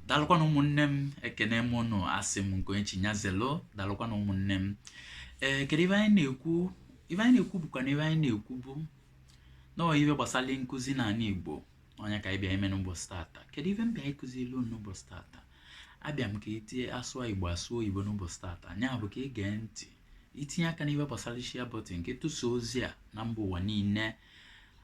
dalụkwanụ ụmụnne m ekene m unu asị m nke onye chi nya zelu dalụkwanụ ụmụnne m ee kedu ife anyị na-ekwu ife anyị na-ekwu bụkwa na ife anyị na-ekwu bụ nọọ ife gbasara nkụzi n'ala igbo ọ nya ka anyị bịa ime n'ụbọchị tata kedu ife m bịa ịkụzi ilu n'ụbọchị tata abịa m ka itinye asụọ igbo asụọ oyibo n'ụbọchị tata nya bụ ka ị gee ntị itinye aka n'ife gbasara share button nke tụsa ozi a na mba ụwa niile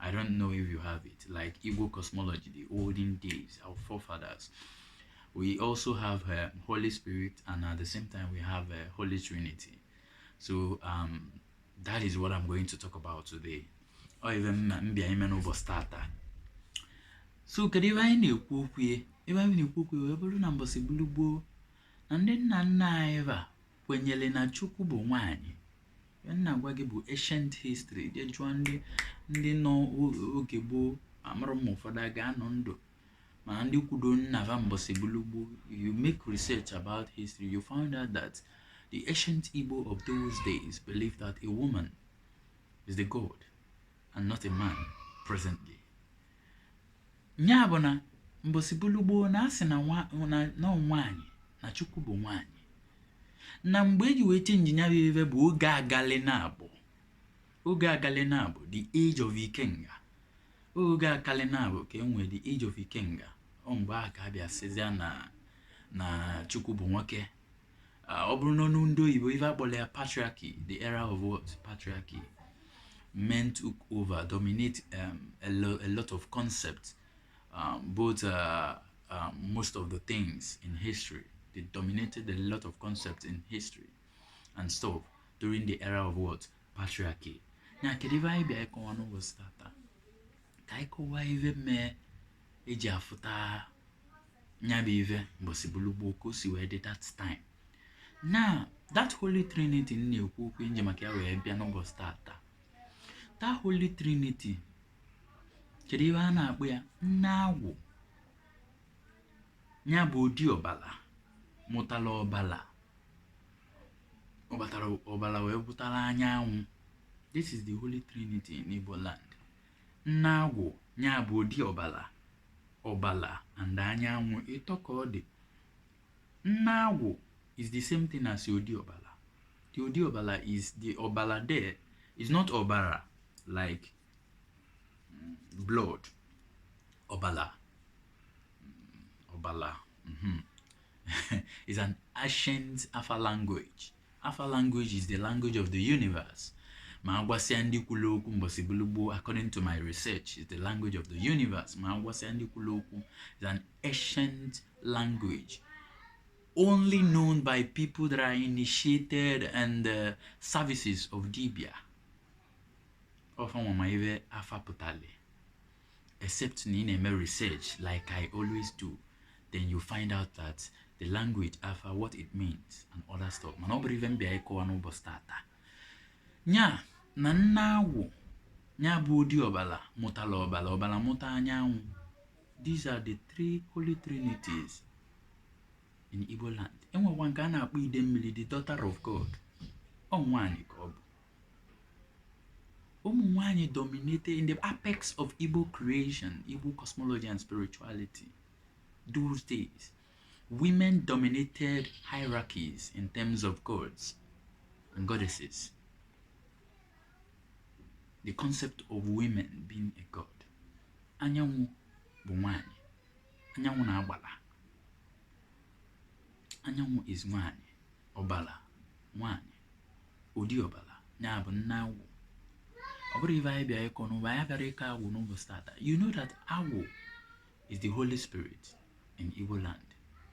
I don't know if you have it, like Igbo cosmology, the olden days, our forefathers. We also have uh, Holy Spirit, and at the same time, we have uh, Holy Trinity. So um, that is what I'm going to talk about today. Ọ ife m bịa ime n'ụbọchị tata. So kedu ife anyị na-ekwu okwu ya? Ife anyị na-ekwu okwu ya wee bụrụ na mbọsị gbulugboo na ndị nna nna anyị va kwenyere na chukwu bụ nwaanyị ihe m na-agwa gị bụ ancient history je jụọ ndị ndị nọ o- oge gboo amarọ m ma ụfọdụ a ga-anọ ndụ mana ndị kwudo nna va mbọsị gbulugboo you make research about history you find out that the ancient igbo of those days believed that a woman is the god and not a man presently nya bụ na mbọsị gbulugboo na asị na nwa- na- na ọ nwaanyị na chukwu bụ nwaanyị na mgbe eji wee change nya bụ ife bụ oge agali na abụ oge agali na abụ the age of ikenga oge agali na abụ ka enwere the age of ikenga ọ mgbe a ka a bịa sịzịa na na chukwu bụ nwoke ah, ọ bụrụ n'ọnụ ndị oyibo ife akpọrọ ya patriarchy the era of what patriarchy men took over dominate um, a, lo a lot of concepts um, both uh, uh, most of the things in history they dominated a lot of concepts in history and stuff during the era of what patriarchy now kedu ife anyị bịa ịkọwa n'ụbọchị tata ka anyị kọwaa ife mee eji afụta nya bụ ife mbọsị gbulugboo ka o si wee dị that time now that holy trinity m na-ekwu okwu m ji maka ya wee bịa n'ụbọchị tata that holy trinity kedu ife a na-akpọ ya nne agwụ nya bụ odi ọbala mụtara ọbala ọbatara ọbala wee bụtara anyanwụ this is the holy trinity in igbo land nne agwụ nya bụ odi ọbala ọbala and anyanwụ ịtọ ka ọ dị nne agwụ is the same thing as the odi ọbala the odi ọbala is the ọbala there is not ọbara like mm, blood ọbala mm, ọbala mm -hmm. is an ancient afa language afa language is the language of the universe ma agwasịa ndị kwulu okwu mbọsị bụlụ gboo according to my research is the language of the universe ma agwasịa ndị kwulu okwu is an ancient language only known by people that are initiated and the uh, services of dibia ọ fa nwa ma ive afa pụtali except na ị na-eme research like I always do then you find out that the language afa what it means and other stuff mana ọ bụrọ ive m bịa ịkọwa n'ụbọsị taata nya na nne agwụ nya bụ ụdị ọbala mụtala ọbala ọbala mụta anyanwụ these are the three holy trinities in Igbo land e nwekwa nke a na-akpọ Idemmili the daughter of God ọ nwaanyị ka ọ bụ ụmụ nwanyị dominated in the apex of igbo creation igbo cosmology and spirituality those days women dominated hierarchies in terms of gods and goddesses the concept of women being a god anyanwụ bụ nwanyị anyanwụ na agbala anyanwụ is nwanyị ọbala nwanyị ụdị ọbala nya bụ nne agwụ ọ bụrọ ive anyị bịa ịkọ n'ụwa anyị abịarọ ịkọ agwụ n'ụbọsị taata you know that agwụ is the holy spirit in Igbo land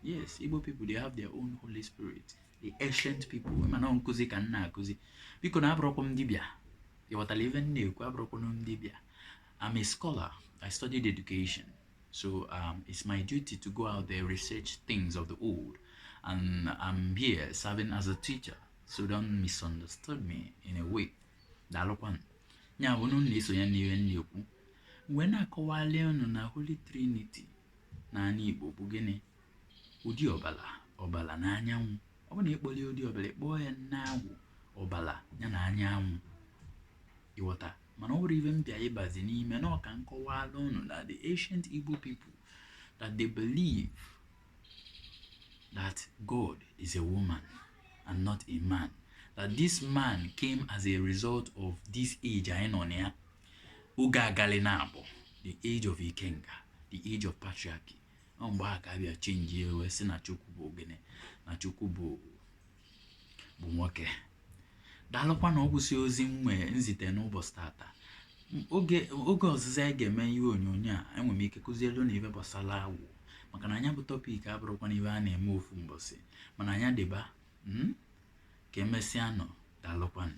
yes Igbo people they have their own holy spirit the ancient people mana ọ nkụzi ka m na-akụzi biko na abụrọkwa m dibịa ị ghọtala ive m na-ekwu abụrọkwa m dibịa I'm a scholar I studied education So um, it's my duty to go out there, research things of the old. And I'm here serving as a teacher. So don't misunderstand me in a way. Daalụkwanụ. Nya bụ unu na-esonye n'ihe m na-ekwu. M wee na-akọwalị unu na Holy Trinity n'anị Igbo bụ gịnị. Ụdị ọbala. Ọbala na anyanwụ. Ọ bụ na ịkpọli ụdị ọbala ị kpọọ ya nne agwụ ọbala ya na anyanwụ ị ghọta mana ọ bụrọ ive m bịa ịbazi n'ime na ọ ka m kọwaalụ unu na the ancient Igbo people that they believe that God is a woman and not a man that this man came as a result of this age anyị nọ na ya ụga agali nya bụ the age of Ikenga the age of patriarchy ọ mgbe a ka a bịa chenjie e wee sị na Chukwu bụ ọ gịnị na Chukwu bụ bụ nwoke daalụkwanụ ọ gwụsị ozi m nwee nzite n'ụbọsị taata M- oge oge ọzọzị anyị ga-eme ihe onyonyo a enwere m ike kụzielụ unu ive gbasara agwụ maka na nya bụ topic abụrọkwanụ ive a na-eme ofu mbọsị mana nya dịba mm? ka emesịanụ daalụkwanụ